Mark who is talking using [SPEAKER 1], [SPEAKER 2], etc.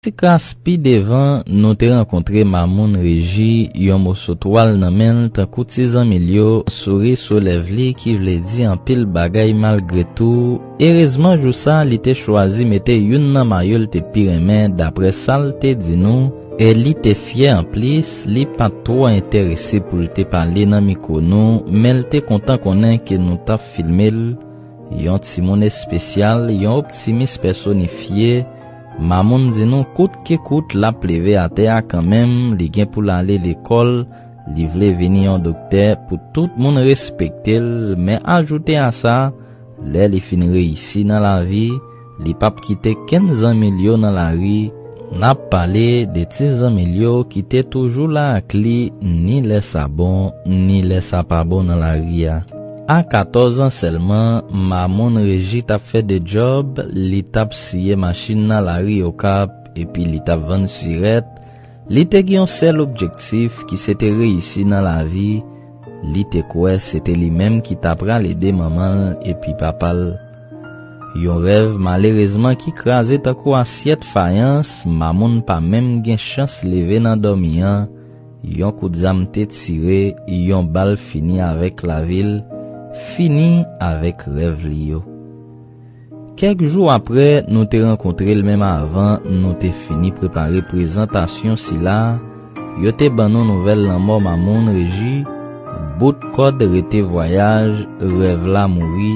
[SPEAKER 1] Ti kras pi devan, nou te rankontre Mamoun Reji, yon moso twal nan men l tankou ti zanmi l yo, souri sou lèv li ki vle di anpil bagay malgre tou. Erezman jou sa li te chwazi mete youn nan mayo l te pi renmen daprè sa l te di nou, e li te fyè anplis li pa t twò enterese pou l te pale nan mikwo nou men l te kontan konnen ke nou t ap filme l, Yon timoun espesyal, yon optimis pèsonifye, Mamoun di nou kout ke kout l ap leve atè a kanmenm, li gen pou l ale lekòl, li vle vini yon doktè pou tout moun respekte l, men ajoute a sa, lè li fin reyisi nan lavi, Li pap kite kenn zanmi l yo nan lari, n ap pale de ti zanmi l yo ki te toujou la ak li ni lè sa bon ni lè sa pa bon nan lari a. A katòz an sèlman, Mamoun Reji t ap fè de djòb, li t ap siye machin nan lari Okap epi li t ap vann sirèt, li te gen yon sèl objektif ki se te reyisi nan lavi, li te kwè se te li menm ki ta pral ede manman l epi papa l. Yon rèv malerezman ki kraze tankou asyèt fayans Mamoun pa menm gen chans leve nan dòmi an, yon kout zam te tire, yon bal fini avèk lavi l, fini avèk rèv li yo. Kèk jou aprè nou te rankontre l menm avan nou te fini prepare prezantasyon sila, yo te ban nou nouvèl lanmò Mamoun Reji, bout kòd rete vwayaj, rèv la mouri,